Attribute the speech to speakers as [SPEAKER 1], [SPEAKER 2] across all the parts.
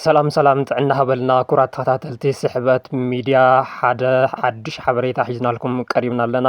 [SPEAKER 1] ሰላም ሰላም ጥዕና ሃበልና ኩራት ተኸታተልቲ ስሕበት ሚድያ ሓደ ሓዱሽ ሓበሬታ ሒዝናልኩም ቀሪብና ኣለና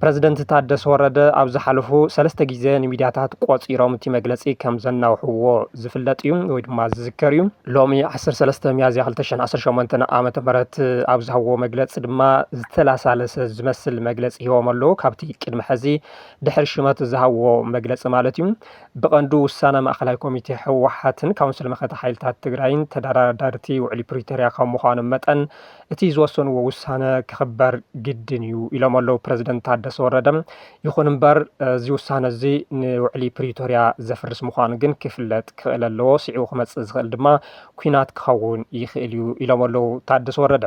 [SPEAKER 1] ፕረዚደንት ታደሰ ወረደ ኣብ ዝሓለፉ ሰለስተ ግዜ ንሚድያታት ቆፂሮም እቲ መግለፂ ከም ዘናውሕዎ ዝፍለጥ እዩ ወይ ድማ ዝዝከር እዩ። ሎሚ 13 ሚያዝያ 2018 ዓ ም ኣብ ዝሃብዎ መግለፂ ድማ ዝተላሳለሰ ዝመስል መግለፂ ሂቦም ኣለዉ። ካብቲ ቅድሚ ሕዚ ድሕሪ ሽመት ዝሃብዎ መግለፂ ማለት እዩ። ብቐንዱ ውሳነ ማእኸላይ ኮሚቴ ህወሓትን ካውንስል መኸተ ሓይልታት ትግራይን ተደራዳርቲ ውዕሊ ፕሪቶርያ ካብ ምዃኖም መጠን እቲ ዝወሰንዎ ውሳነ ክኽበር ግድን እዩ ኢሎም ኣለዉ ፕረዚደንት ታደሰ ወረደ። ይኹን እምበር እዚ ውሳነ እዚ ንውዕሊ ፕሪቶርያ ዘፍርስ ምዃኑ ግን ክፍለጥ ክኽእል ኣለዎ፣ ስዒቡ ክመፅእ ዝኽእል ድማ ኩናት ክኸውን ይኽእል እዩ ኢሎም ኣለዉ ታደሰ ወረደ።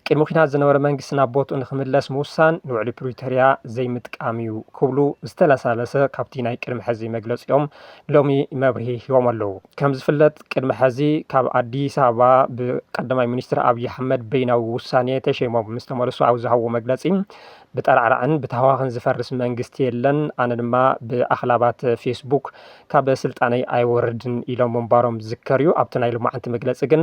[SPEAKER 1] ቅድሚ ኲናት ዝነበረ መንግስቲ ናብ ቦትኡ ንክምለስ ምውሳን ንውዕሊ ፕሪቶርያ ዘይምጥቃም እዩ ክብሉ ዝተለሳለሰ ካብቲ ናይ ቅድሚ ሕዚ መግለፂኦም ሎሚ መብርሂ ሂቦም ኣለዉ። ከምዝፍለጥ ቅድሚ ሕዚ ካብ ኣዲስ ኣበባ ብቀዳማይ ሚኒስትር ኣብዪ ኣሕመድ በይናዊ ውሳኔ ተሸይሞም ምስተመልሱ ኣብ ዝሃብዎ መግለፂ ብጠራዕራዕን ብታህዋኽን ዝፈርስ መንግስቲ የለን ኣነ ድማ ብኣኽላባት ፌስቡክ ካብ ስልጣነይ ኣይወርድን ኢሎም ምንባሮም ዝዝከር እዩ። ኣብቲ ናይ ሎማዕንቲ መግለፂ ግን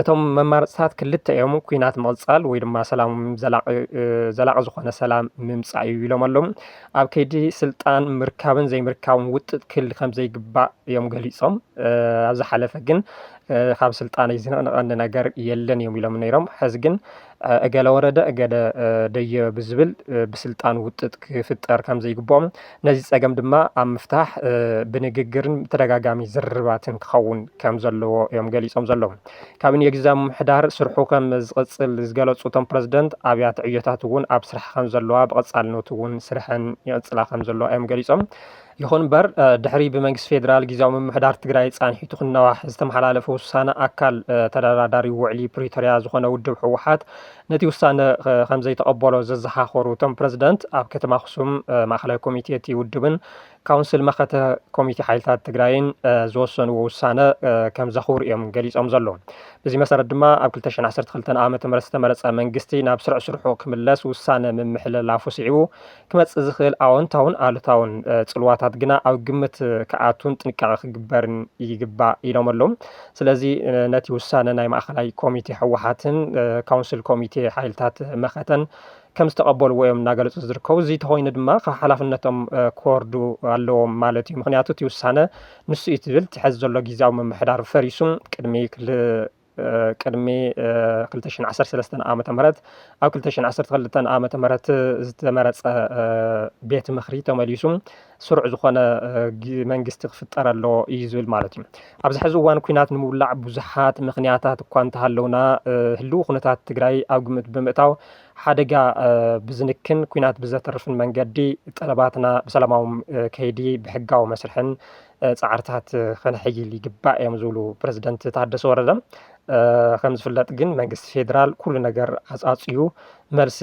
[SPEAKER 1] እቶም መማረፅታት ክልተ እዮም፣ ኩናት ምቕፃል ወይ ድማ ሰላም ዘላቒ ዘላቒ ዝኾነ ሰላም ምምፃእ እዩ ኢሎም ኣለዉ። ኣብ ከይዲ ስልጣን ምርካብን ዘይምርካብን ውጥጥ ክህሊ ከምዘይግባእ እዮም ገሊፆም። ኣብ ዝሓለፈ ግን ካብ ስልጣነይ ዝንቕንቐኒ ነገር የለን እዮም ኢሎም ነይሮም። ሕዚ ግን እገለ ወረደ እገለ ደየበ ብዝብል ብስልጣን ውጥጥ ክፍጠር ከም ዘይግብኦም ነዚ ፀገም ድማ ኣብ ምፍታሕ ብንግግርን ተደጋጋሚ ዝርርባትን ክኸውን ከም ዘለዎ እዮም ገሊፆም ዘለዉ። ካቢኔ ግዝያዊ ምምሕዳር ስርሑ ከም ዝቕፅል ዝገለፁ እቶም ፕረዚደንት ኣብያተ ዕዮታት እውን ኣብ ስራሕ ከም ዘለዋ ብቐፃልነቱ እውን ስርሐን ይቕፅላ ከም ዘለዋ እዮም ገሊፆም። ይኹን እምበር ድሕሪ ብመንግስቲ ፌዴራል ግዜያዊ ምምሕዳር ትግራይ ፃንሒቱ ክናዋሕ ዝተመሓላለፈ ውሳነ ኣካል ተደራዳሪ ውዕሊ ፕሪቶሪያ ዝኾነ ውድብ ህወሓት ነቲ ውሳነ ከምዘይተቐበሎ ዘዘኻኸሩ እቶም ፕረዚደንት ኣብ ከተማ ኣኽሱም ማእኸላይ ኮሚቴ እቲ ውድብን ካውንስል መኸተ ኮሚቴ ሓይልታት ትግራይን ዝወሰንዎ ውሳነ ከም ዘኽብሩ እዮም ገሊፆም ዘለዉ። በዚ መሰረት ድማ ኣብ 2012 ዓ ም ዝተመረፀ መንግስቲ ናብ ስርዕ ስርሑ ክምለስ ውሳነ ምምሕልላፉ ስዒቡ ክመጽእ ዝኽእል ኣወንታውን ኣሉታውን ጽልዋታት ግና ኣብ ግምት ክኣቱን ጥንቃቐ ክግበርን ይግባእ ኢሎም ኣለዉ። ስለዚ ነቲ ውሳነ ናይ ማእኸላይ ኮሚቴ ህወሓትን ካውንስል ኮሚቴ ሓይልታት መኸተን ከም ዝተቐበልዎ እዮም እናገለፁ ዝርከቡ። እዚ ተኾይኑ ድማ ካብ ሓላፍነቶም ክወርዱ ኣለዎም ማለት እዩ። ምክንያቱ እቲ ውሳነ ንሱ እዩ ትብል ትሕዝ ዘሎ ግዜያዊ ምምሕዳር ፈሪሱ ቅድሚ ቅድሚ ክልተ ሽሕን ዓሰርተ ሰለስተን ዓመተ ምህረት ኣብ ክልተ ሽሕን ዓሰርተ ክልተን ዓመተ ምህረት ዝተመረጸ ቤት ምኽሪ ተመሊሱ ስሩዕ ዝኾነ መንግስቲ ክፍጠር ኣለዎ እዩ ዝብል ማለት እዩ ኣብዚ ሕዚ እዋን ኩናት ንምውላዕ ብዙሓት ምክንያታት እኳ እንተሃለውና ህልው ኩነታት ትግራይ ኣብ ግምት ብምእታው ሓደጋ ብዝንክን ኩናት ብዘተርፍን መንገዲ ጠለባትና ብሰላማዊ ከይዲ ብሕጋዊ መስርሕን ፃዕርታት ከነሐይል ይግባእ እዮም ዝብሉ ፕረዚደንት ታደሰ ወረደ። ከም ዝፍለጥ ግን መንግስቲ ፌዴራል ኩሉ ነገር ኣፃፅዩ መልሲ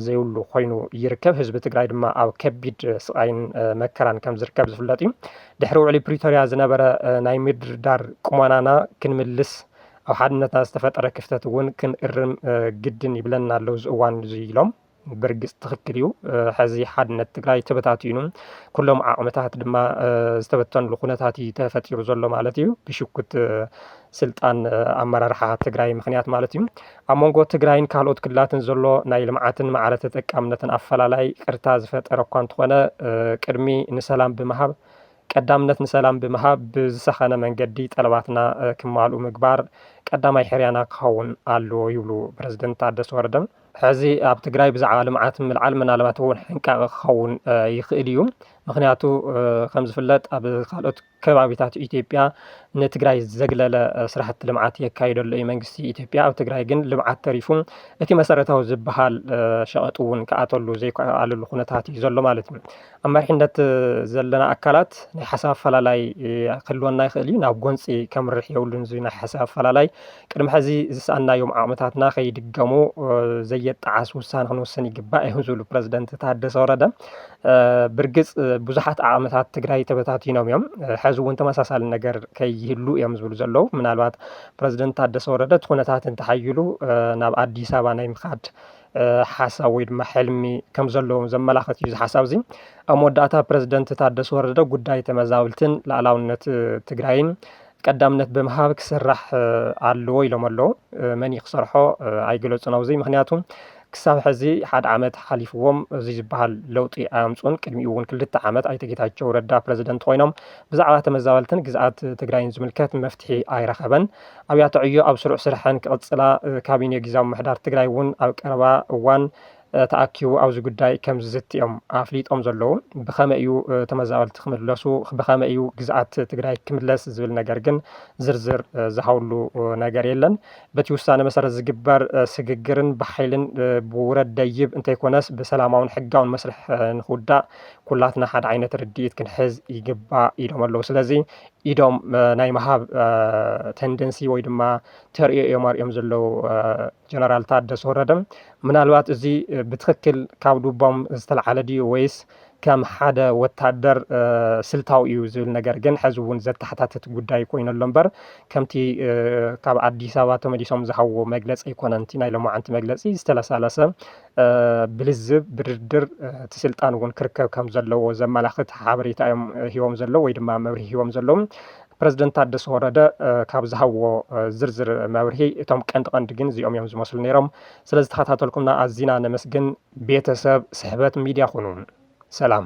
[SPEAKER 1] ዘይብሉ ኮይኑ ይርከብ። ህዝቢ ትግራይ ድማ ኣብ ከቢድ ስቓይን መከራን ከም ዝርከብ ዝፍለጥ እዩ። ድሕሪ ውዕሊ ፕሪቶሪያ ዝነበረ ናይ ምድርዳር ቁመናና ክንምልስ ኣብ ሓድነትና ዝተፈጠረ ክፍተት እውን ክንእርም ግድን ይብለና ኣሎ እዚ እዋን እዚ ኢሎም። ብርግፅ ትኽክል እዩ ሐዚ ሓድነት ትግራይ ተበታቲኑ ኩሎም ዓቕምታት ድማ ዝተበተንሉ ኩነታት እዩ ተፈጢሩ ዘሎ ማለት እዩ ብሽኩት ስልጣን ኣመራርሓ ትግራይ ምክንያት ማለት እዩ ኣብ መንጎ ትግራይን ካልኦት ክልላትን ዘሎ ናይ ልምዓትን ማዕረ ተጠቃምነትን ኣፈላላይ ቅርታ ዝፈጠረ እኳ እንተኾነ ቅድሚ ንሰላም ብምሃብ ቀዳምነት ንሰላም ብምሃብ ብዝሰኸነ መንገዲ ጠለባትና ክማልኡ ምግባር ቀዳማይ ሕርያና ክኸውን ኣለዎ ይብሉ ፕረዚደንት ታደሰ ወረደ። ሕዚ ኣብ ትግራይ ብዛዕባ ልምዓት ምልዓል ምናልባት እውን ሕንቃቐ ክኸውን ይኽእል እዩ። ምኽንያቱ ከም ዝፍለጥ ኣብ ካልኦት ከባቢታት ኢትዮጵያ ንትግራይ ዘግለለ ስራሕቲ ልምዓት የካይዶ ኣሎ እዩ መንግስቲ ኢትዮጵያ። ኣብ ትግራይ ግን ልምዓት ተሪፉ እቲ መሰረታዊ ዝበሃል ሸቐጥ እውን ክኣተሉ ዘይከኣለሉ ኩነታት እዩ ዘሎ ማለት እዩ። ኣብ መሪሕነት ዘለና ኣካላት ናይ ሓሳብ ኣፈላላይ ክህልወና ይኽእል እዩ። ናብ ጎንፂ ከምርሕ የብሉን እዚ ናይ ሓሳብ ኣፈላላይ። ቅድሚ ሕዚ ዝሰኣንናዮም ዓቕምታትና ከይድገሙ ዘየጣዓስ ውሳነ ክንውስን ይግባእ እዮም ዝብሉ ፕረዚደንት ታደሰ ወረደ። ብርግፅ ብዙሓት ዓቕምታት ትግራይ ተበታቲኖም እዮም። ሕዚ እውን ተመሳሳሊ ነገር ከይህሉ እዮም ዝብሉ ዘለዉ። ምናልባት ፕረዚደንት ታደሰ ወረደ እቲ ኩነታት እንተሓይሉ ናብ ኣዲስ ኣበባ ናይ ምኻድ ሓሳብ ወይ ድማ ሕልሚ ከም ዘለዎም ዘመላኽት እዩ እዚ ሓሳብ እዚ። ኣብ መወዳእታ ፕረዚደንት ታደሰ ወረደ ጉዳይ ተመዛበልትን ላዕላውነት ትግራይን ቀዳምነት ብምሃብ ክስራሕ ኣለዎ ኢሎም ኣለዉ። መን እዩ ክሰርሖ ኣይገለፁን ኣብዚ ምክንያቱ ክሳብ ሕዚ ሓደ ዓመት ሓሊፍዎም እዚ ዝበሃል ለውጢ ኣያምፁን ቅድሚኡ እውን ክልተ ዓመት ኣይተ ጌታቸው ረዳ ፕረዚደንት ኮይኖም ብዛዕባ ተመዛበልትን ግዝኣት ትግራይን ዝምልከት መፍትሒ ኣይረኸበን። ኣብያተ ዕዮ ኣብ ስሩዕ ስርሐን ክቕፅላ፣ ካቢኔ ጊዚያዊ ምምሕዳር ትግራይ እውን ኣብ ቀረባ እዋን ተኣኪቡ ኣብዚ ጉዳይ ከምዝዝቲ እዮም ኣፍሊጦም ዘለዉ። ብኸመይ እዩ ተመዛበልቲ ክምለሱ፣ ብኸመይ እዩ ግዝኣት ትግራይ ክምለስ ዝብል ነገር ግን ዝርዝር ዝሃብሉ ነገር የለን። በቲ ውሳነ መሰረት ዝግበር ስግግርን ብሓይልን ብውረድ ደይብ እንተይኮነስ ብሰላማውን ሕጋውን መስርሕ ንክውዳእ ኩላትና ሓደ ዓይነት ርድኢት ክንሕዝ ይግባእ ኢሎም ኣለዉ። ስለዚ ኢዶም ናይ ምሃብ ተንደንሲ ወይ ድማ ተርእዮ እዮም ኣርዮም ዘለዉ ጀነራል ታደሰ ወረደ ምናልባት እዚ ብትክክል ካብ ልቦም ዝተለዓለ ድዩ ወይስ ከም ሓደ ወታደር ስልታዊ እዩ ዝብል ነገር ግን ሕዚ እውን ዘተሓታትት ጉዳይ ኮይኑ ኣሎ እምበር ከምቲ ካብ ኣዲስ ኣበባ ተመሊሶም ዝሃብዎ መግለፂ ኣይኮነን እቲ ናይ ሎማዓንቲ መግለፂ ዝተለሳለሰ ብልዝብ ብድርድር እቲ ስልጣን እውን ክርከብ ከም ዘለዎ ዘመላኽት ሓበሬታ እዮም ሂቦም ዘለዉ ወይ ድማ መብርሂ ሂቦም ዘለዉ። ፕረዚደንት ታደሰ ወረደ ካብ ዝሃብዎ ዝርዝር መብርሂ እቶም ቀንዲ ቀንዲ ግን እዚኦም እዮም ዝመስሉ ነይሮም። ስለዝተኸታተልኩምና ኣዚና ነመስግን። ቤተሰብ ስሕበት ሚድያ ኩኑ። ሰላም።